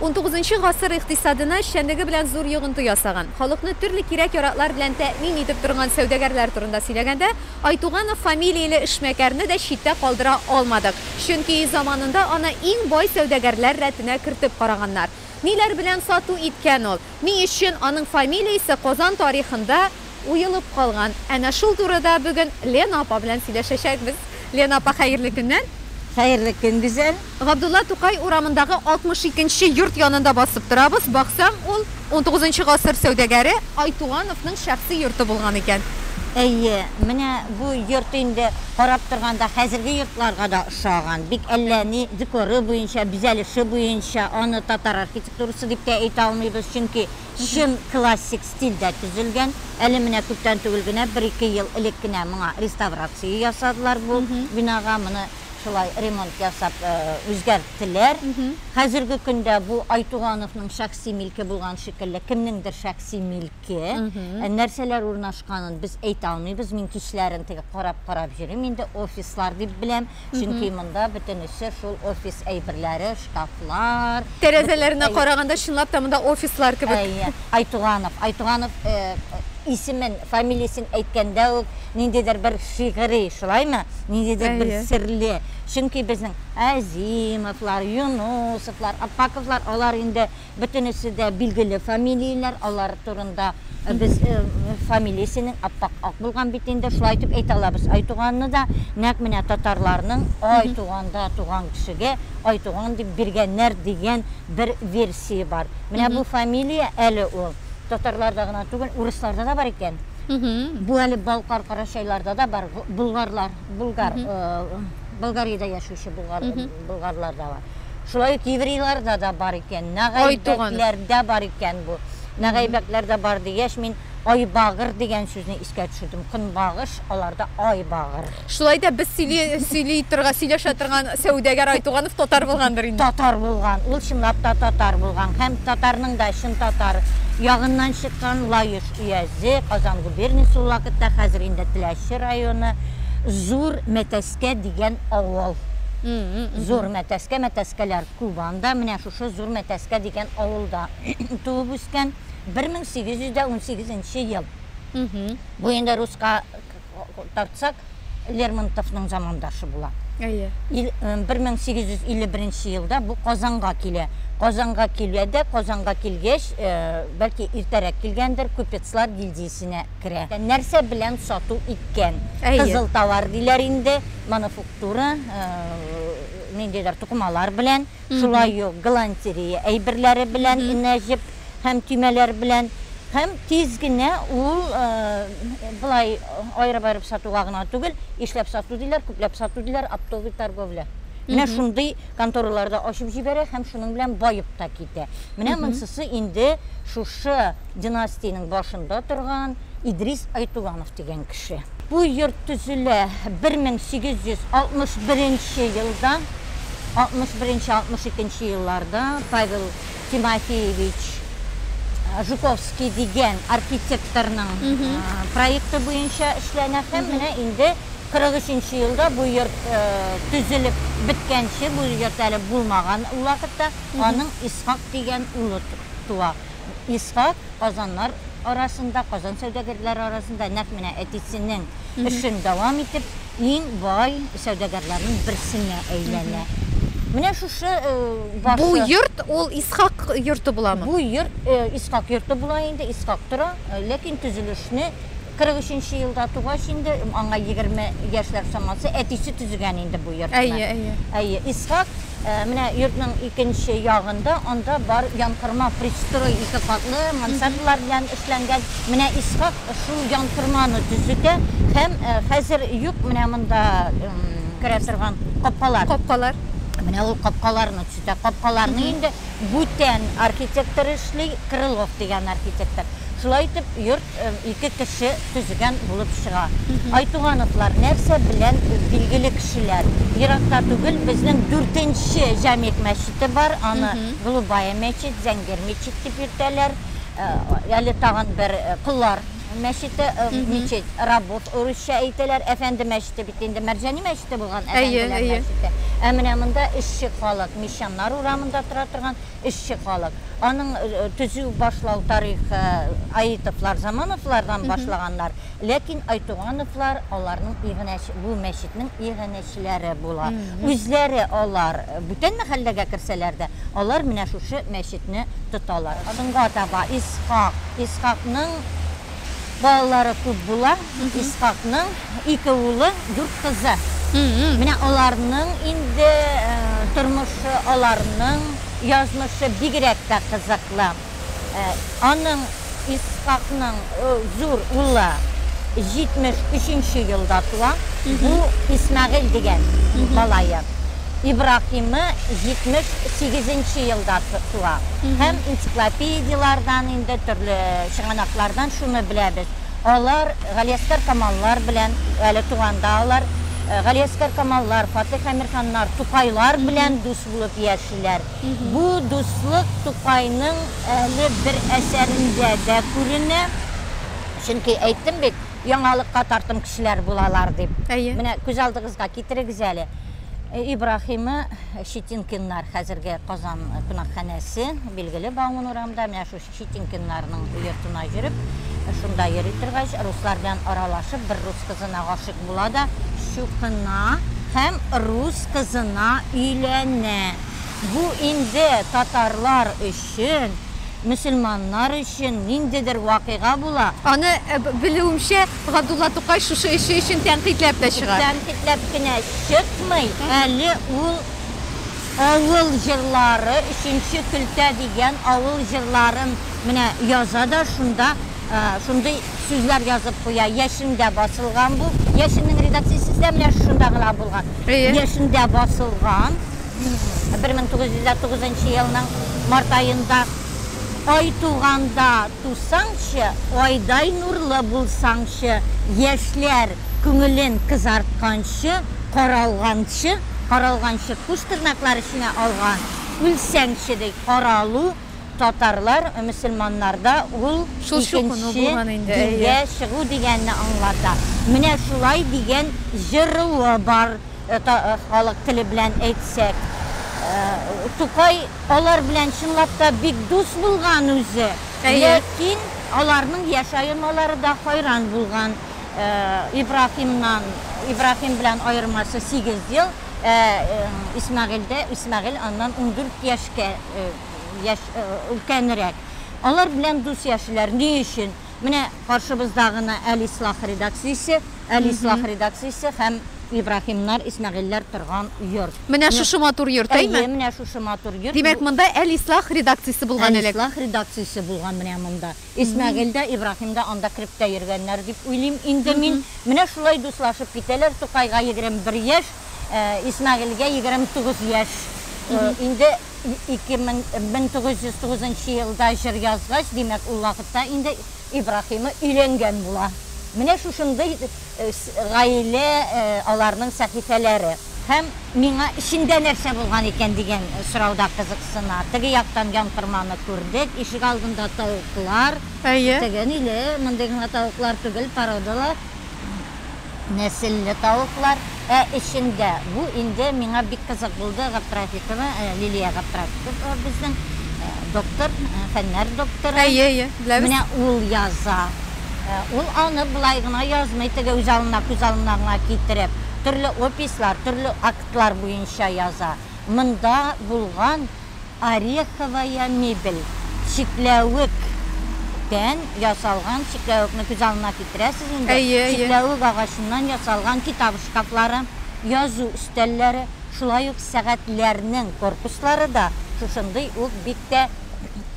Унтугызынчы гасыр икътисадына эшчәнлеге белән зур йогынты ясаган, халыкны төрле кирәк-яраклар белән тәэмин итеп торган сәүдәгәрләр турында сөйләгәндә, Айтуганов фамилияле эшмәкәрне дә читтә калдыра алмадык, чөнки заманында аны иң бай сәүдәгәрләр рәтенә кертеп караганнар. Ниләр белән сату иткән ул, ни өчен аның фамилиясе Казан тарихында, уелып калган. Әнә шул турыда бүген Лена апа белән сөйләшәчәкбез. Лена апа, хәерле көннәр! Хәерле көн, Гүзәл! Габдулла Тукай урамындагы 62 нче йорт янында басып торабыз. Баксам, ул унтугызынчы гасыр сәүдәгәре Айтугановның шәхси йорты булган икән. Әйе, менә бу йорт инде карап торганда хәзерге йортларга да ошаган. Бик әллә ни декоры буенча, бизәлеше буенча аны татар архитектурасы дип тә әйтә алмыйбыз, чөнки чын классик стильдә төзелгән. Әле менә күптән түгел генә, бер-ике ел элек кенә моңа реставрация ясадылар бу бинага. Моны шулай ремонт ясап үзгәрттеләр. Хәзерге көндә бу Айтугановның шәхси милке булган шикелле, кемнеңдер шәхси милке. Нәрсәләр урнашканын без әйтә алмыйбыз. Мин кичләрен теге карап-карап йөрим инде, офислар дип беләм. Чөнки монда бөтенесе шул офис әйберләре, шкафлар. Тәрәзәләренә караганда, чынлап та монда офислар кебек. Әйе, Айтуганов. Айтуганов исемен, фамилиясен әйткәндә үк ниндидер бер шигъри, шулаймы? Ниндидер бер серле. Чөнки безнең Әзимовлар, Юнусовлар, Аппаковлар, алар инде Бөтенесе дә билгеле фамилияләр, алар турында без фамилиясенең аппак ак булган бит инде, шулай итеп әйтә алабыз. Айтуганны да нәкъ менә татарларның ай туганда туган кешегә Айтуган дип биргәннәр дигән бер версия бар. Менә бу фамилия әле ул татарларда гына түгел, урысларда да бар икән. Бу әле Балкар карачайларда да бар, болгарлар, болгар, Болгариядә яшәүче болгарларда бар. Шулай ук еврейларда да бар икән, нәгайбәкләрдә бар икән бу. Нәгайбәкләрдә бар дигәч, мин айбагыр дигән сүзне искә төшердем. Көнбагыш, аларда айбагыр. Шулай да без сөйли, сөйли торган, сөйләшә торган сәүдәгәр Айтуганов татар булгандыр инде. Татар булган, ул чынлап та татар булган һәм татарның да чын татар ягыннан чыккан Лаеш өязе, Казан губерниясе ул вакытта, хәзер инде Теләче районы, Зур Мәтәс Мәтәскә дигән авыл. Зур Мәтәскә, Мәтәскәләр, күп анда. Менә шушы Зур Мәтәскә дигән авылда туып үскән. 1818 нче ел. Бу инде руска тартсак, Лермонтовның замандашы була. Әйе. 1851 нче елда бу Казанга килә. Казанга килә дә, Казанга килгәч, бәлки иртәрәк килгәндер, купецлар гильдиясенә. керә. Нәрсә белән сату иткән? Кызыл товар диләр инде, мануфуктура, ниндидер тукымалар белән, шулай ук галантерея әйберләре белән, энә җеп һәм төймәләр белән. Һәм тиз генә ул болай аерып-аерып сатуга гына түгел, ишләп сату диләр, күпләп сату диләр, оптовый торговля. Менә шундый конторалар да ачып җибәрә һәм шуның белән баеп та китә. Менә монсысы инде шушы династиянең башында торган Идрис Айтуганов дигән кеше. Бу йорт төзелә 1861 нче елда, 61 нче, 62 нче елларда Павел Тимофеевич Жуковский дигән архитекторның проекты буенча эшләнә һәм менә инде 43 нче елда бу йорт төзелеп беткәнче, бу йорт әле булмаган ул вакытта, аның Исхак дигән улы туа. Исхак казаннар арасында, Казан сәүдәгәрләре арасында нәкъ менә әтисенең эшен дәвам итеп, иң бай сәүдәгәрләрнең берсенә әйләнә. Менә шушы башы. Бу йорт ул Исхак йорты буламы? Бу йорт Исхак йорты була инде, Исхак тора, ләкин төзелешне 43-нче елда тугач инде, аңа 20 яшьләр чамасы, әтисе төзегән инде бу йортны. Әйе, әйе. Әйе, Исхак, э, менә йортның икенче ягында, анда бар янкорма пристрой ике катлы мансардлар белән эшләнгән. Менә Исхак шул янкорманы төзетә һәм э, хәзер юк менә монда керә торган капкалар. Капкалар. Менә ул капкаларны төзетә. Капкаларны инде Бүтән архитектор эшли, Крылов дигән архитектор. Шулай итеп, йорт ике кеше төзегән булып чыга. Айтугановлар нәрсә белән билгеле кешеләр? Еракта түгел безнең дүртенче Җәмигъ мәчете бар, аны Голубая мәчет, Зәңгәр мәчет дип йөртәләр. Әле тагын бер, Коллар. Мәчете, мечеть, работ, урысча әйтәләр, әфәнде мәчете бит инде, Мәрҗани мәчете булган, әфәнделәр мәчете. Ә менә монда эшче халык, мещаннар урамында тора торган эшче халык. Аның төзү, башлау тарихы Аитовлар, Замановлардан башлаганнар, ләкин Айтугановлар аларның иганәче, бу мәчетнең иганәче. кешеләре була. Үзләре алар бүтән мәхәлләгә керсәләр дә, алар менә шушы мәчетне тоталар. Соңга таба Исхак, Исхакның балалары күп була, Исхакның ике улы, дүрт кызы. Менә аларның инде тормышы, аларның язмышы бигрәк тә кызыклы. Аның Исхакның зур улы 73 нче елда туа, бу Исмәгыйль дигән малае. Ибраһимы 78 нче елда туа. Һәм энциклопедияләрдән инде, төрле чыганаклардан шуны беләбез, алар Галиәсгар Камаллар белән әле туганда алар Галиәсгар Камаллар, Фатыйх Әмирханнар, Тукайлар белән дус булып яшиләр. Бу дуслык Тукайның әле бер әсәрендә дә күренә. Чөнки әйттем бит, яңалыкка тартым кешеләр булалар дип. Әйе. Менә күз алдыгызга китерегез әле. Ибраһимы Щетинкиннар, хәзерге Казан кунакханәсе, билгеле Бауман урамында, менә шул Щетинкиннарның йортына йөреп, шунда йөри торгач, руслар белән аралашып, бер рус кызына гашыйк була да, чукына һәм рус кызына өйләнә. Бу инде татарлар өчен, мөселманнар өчен ниндидер вакыйга була. Аны, белүемчә, Габдулла Тукай шушы эше өчен тәнкыйтьләп тә чыга. Тәнкыйтьләп кенә чыкмый, әле ул. Авыл җырлары, Өченче көлтә дигән авыл җырларын менә яза да шунда шундый сүзләр язып куя. Яшендә басылган бу. Яшеннең редакциясе сездә менә шунда гына булган. Яшендә басылган. Бер мең тугыз йөз дә тугызынчы елның март аенда. Ай туганда тусаңчы, Айдай нурлы булсаңчы, Яшьләр күңелен кызартканчы, Каралганчы Каралганчы куш тырнаклар эченә алган, үлсәңче ди, каралу, татарлар, мөселманнарда ул икенче дингә чыгу дигәнне аңлата. Менә шулай дигән җыруы бар, халык теле белән әйтсәк. Тукай алар белән чынлап та бик дус булган үзе, ләкин аларның яшь аямалары да хәйран булган. Ибраһимнан, Ибраһим белән аермасы сигез ел, ә Исмәгыйльдә, Исмәгыйль аннан ундүрт яшькә яшь өлкәнрәк. Алар белән дус яшиләр. Ни өчен? Менә каршыбызда гына Әл-Ислах редакциясе, Әл-Ислах редакциясе һәм Ибраһимнар, Исмәгыйльләр торган йорт. Менә шушы матур йорт, әйме? Әйе, менә шушы матур йорт. Димәк, монда Әл-Ислах редакциясе булган элек? Әл-Ислах редакциясе булган менә монда. Исмәгыйль дә, Ибраһим да анда кереп тә йөргәннәр дип уйлыйм инде мин. Менә шулай дуслашып китәләр. Тукайга егерем бер яшь, Исмәгыйльгә егерем тугыз яшь. Инде ике мең, мең тугыз йөз тугызынчы елда җыр язгач, димәк, ул вакытта инде Ибраһимы өйләнгән була. Менә шушындый гаилә, аларның сәхифәләре һәм миңа эчендә нәрсә булган икән дигән сорауда кызыксына. Теге яктан янкорманы күрдек, ишегалдында тавыклар. Әйе. Төгәниле, мондый гына тавыклар түгел, породалы, нәселле тавыклар. Ә эчендә, бу инде миңа бик кызык булды, Габдрафикова Лилия Габдрафикова безнең доктор, фәннәр докторы. Әйе, әйе, беләбез. Менә ул яза. Ул аны болай гына язмый, теге үз алдына, күз алдына гына китереп, төрле опислар, төрле актлар буенча яза. Монда булган Ореховая мебель, чикләвек, тән ясалган чикләвекне күз алдына китерәсез инде. Әйе, әйе. Чикләвек агачыннан ясалган китап шкафлары, язу өстәлләре, шулай ук сәгатьләрнең корпуслары да шушындый ук бик тә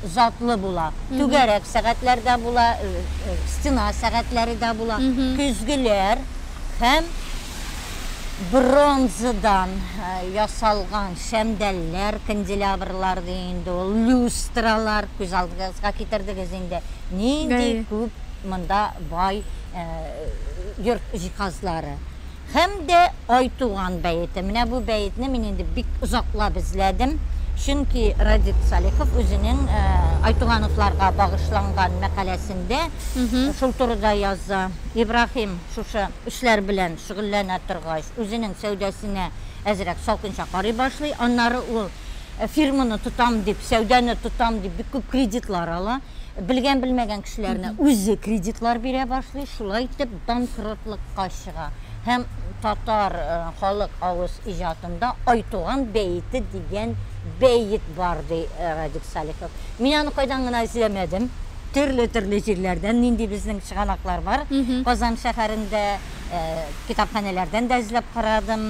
затлы була. Түгәрәк сәгатьләр дә була, стена сәгатьләре дә була, көзгеләр һәм. бронзадан ясалган шәмдәлләр, канделябрлар ди инде ул, люстралар күз алдыгызга китердегез инде. Нинди күп монда бай йорт җиһазлары. Һәм дә Айтуган бәете. Менә бу бәетне мин инде бик озаклап эзләдем. Чөнки Радик Салихов үзенең Айтугановларга багышланган мәкаләсендә шул турыда яза. Ибраһим шушы Эшләр белән шөгыльләнә торгач, үзенең сәүдәсенә әзрәк салкынча карый башлый. Аннары ул фирманы тотам дип, сәүдәне тотам дип бик күп кредитлар ала. Белгән-белмәгән кешеләренә үзе кредитлар бирә башлый. Шулай итеп, банкротлыкка чыга һәм татар халык авыз иҗатында Айтуган бәете дигән бәет бар, ди Радик Салихов. Мин аны кайдан гына эзләмәдем. Төрле төрле җирләрдән нинди безнең чыганаклар бар. Казан шәһәрендә китапханәләрдән дә эзләп карадым,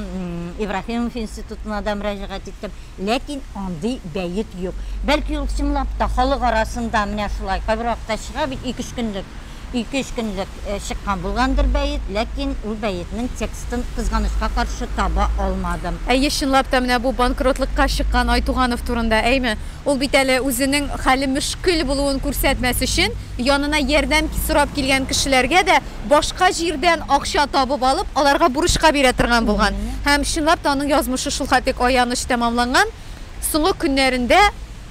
Ибраһимов институтына да мөрәҗәгать иттем. Ләкин андый бәет юк. Бәлки ул чынлап та халык арасында менә шулай кайбер вакытта чыга бит, ике-өч көнлек, ике-өч көнлек чыккан булгандыр бәет, ләкин ул бәетнең текстын, кызганычка каршы, таба алмадым. Әйе, чынлап та, менә бу банкротлыкка чыккан Айтуганов турында, әйме? Ул бит әле үзенең хәле мөшкел булуын күрсәтмәс өчен, янына ярдәм сорап килгән кешеләргә дә башка җирдән акча табып алып, аларга бурычка бирә торган булган. Һәм, чынлап та, аның язмышы шулхатик аяныч тәмамланган. Соңгы көннәрендә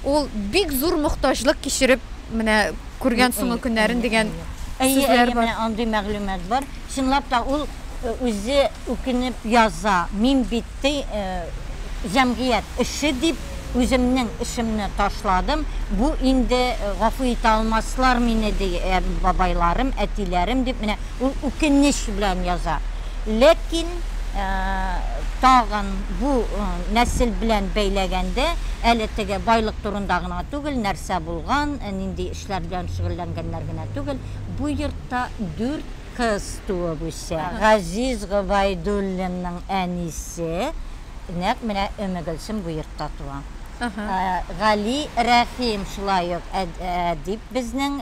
ул бик зур мохтаҗлык кичереп менә күргән соңгы көннәрен дигән сүзләр бар. Әйе, әйе, менә андый мәгълүмат бар. Чынлап та, ул үзе үкенеп яза, мин бит, Ты җәмгыять эше дип үземнең эшемне ташладым, бу инде гафу итә алмаслар мине, ди бабайларым, әтиләрем, дип менә ул үкенеч белән яза. Ләкин тагын бу нәсел белән бәйләгәндә, әле теге байлык турында гына түгел, нәрсә булган, нинди эшләр белән шөгыльләнгәннәр генә түгел, бу йортта дүрт, Кыз туып үсә. Газиз Гобәйдуллинның әнисе нәкъ менә Өмегөлсем бу йортта туа. Гали Рәхим шулай ук әдип безнең,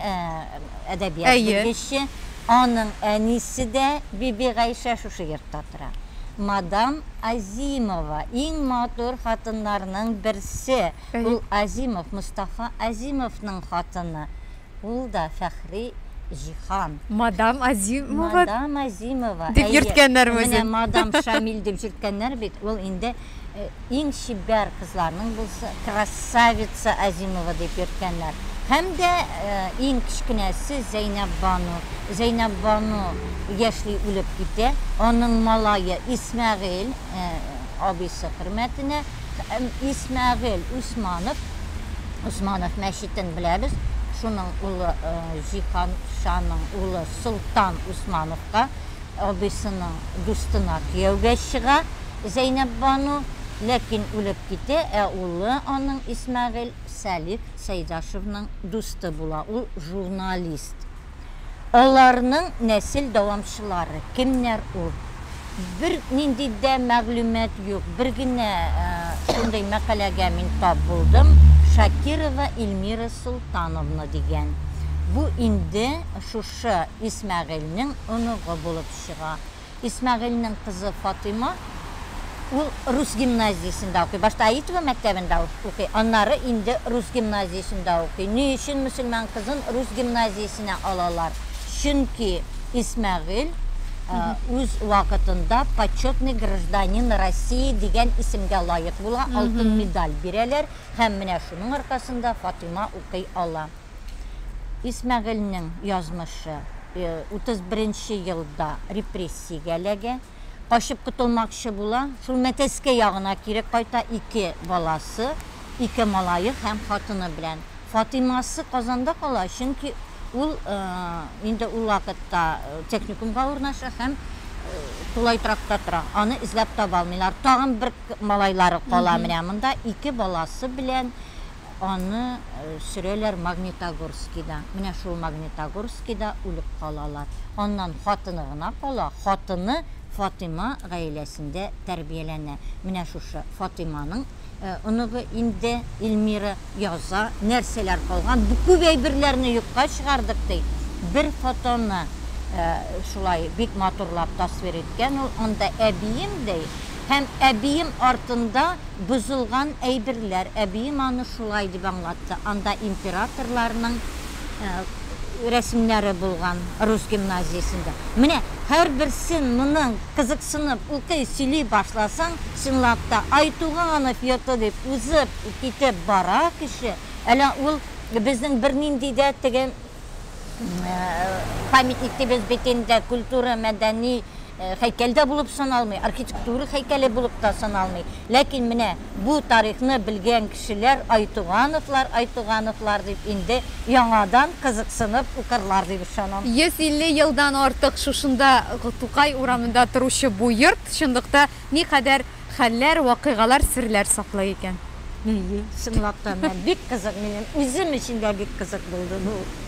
әдәбият белгече. Аның әнисе дә Бибигайшә шушы йортта тора. Мадам Азимова, иң матур хатыннарның берсе. Ул Азимов, Мостафа Азимовның хатыны. Ул да Фәхри Җиһан. Мадам Азимова. Мадам Азимова. Дип йөрткәннәр үзен. Менә мадам Шамил дип йөрткәннәр бит. Ул инде э, иң чибәр кызларның булса, красавица Азимова дип йөрткәннәр. Һәм дә э, иң кечкенәсе Зәйнәб Бану. Зәйнәб Бану яшьли үлеп китә. Аның малае Исмәгыйль э, абыйсы хөрмәтенә Һәм Исмәгыйль Усманов, Усманов мәчетен беләбез, шуның улы Җиһан шаның улы Солтан Усмановка, абыйсының дустына кияүгә чыга Зәйнәббану, ләкин үлеп китә, ә улы аның Исмәгыйль Сәлих Сәйдашевның дусты була, ул журналист. Аларның нәсел дәвамчылары кемнәр ул? Бер нинди дә мәгълүмат юк. Бер генә шундый мәкаләгә мин тап булдым, Шакирова Ильмира Солтановна дигән. Бу инде шушы Исмәгыйльнең оныгы булып чыга. Исмәгыйльнең кызы Фатыйма, ул рус гимназиясендә укый. Башта Аитова мәктәбендә укый, аннары инде рус гимназиясендә укый. Ни өчен мөселман кызын рус гимназиясенә алалар? Чөнки Исмәгыйль үз вакытында Почетный гражданин России дигән исемгә лаек була, алтын медаль бирәләр, һәм менә шуның аркасында Фатыйма укый ала. Исмәгыйльнең язмышы, 31 нче елда репрессиягә эләгә, качып котылмакчы була, шул Мәтәскә ягына кире кайта, ике баласы, ике малае һәм хатыны белән. Фатыймасы Казанда кала, чөнки ул инде ул вакытта техникумга урнаша һәм тулай торакта тора. Аны эзләп таба алмыйлар. Тагын бер малайлары кала менә монда, ике баласы белән. Аны сөрәләр Магнитогорскида. Менә шул Магнитогорскида үлеп калалар. Аннан хатыны гына кала, хатыны Фатыйма гаиләсендә тәрбияләнә. Менә шушы Фатыйманың оныгы инде Илмира яза, нәрсәләр калган, бу күп әйберләрне юкка чыгардык, ди. Бер фотоны шулай бик матурлап тасвир иткән ул, анда әбием, ди, Һәм әбием артында бозылган әйберләр. Әбием аны шулай дип аңлатты, анда императорларның рәсемнәре булган, рус гимназиясендә. Менә һәрберсен моның кызыксынып укый, сөйли башласаң, чынлап та, Айтуганов йорты дип узып китеп бара кеше, әле ул безнең бернинди дә теге, Памятник дибез бит инде, культура, мәдәни һәйкәл дә булып саналмый, архитектура һәйкәле булып та саналмый. Ләкин менә бу тарихны белгән кешеләр Айтугановлар, Айтугановлар дип инде яңадан кызыксынып укырлар дип ышанам. 150 елдан артык шушында Тукай урамында торучы бу йорт чынлыкта никадәр хәлләр, вакыйгалар, серләр саклый икән? Чынлап та, менә бик кызык, минем үзем өчен дә бик кызык булды бу.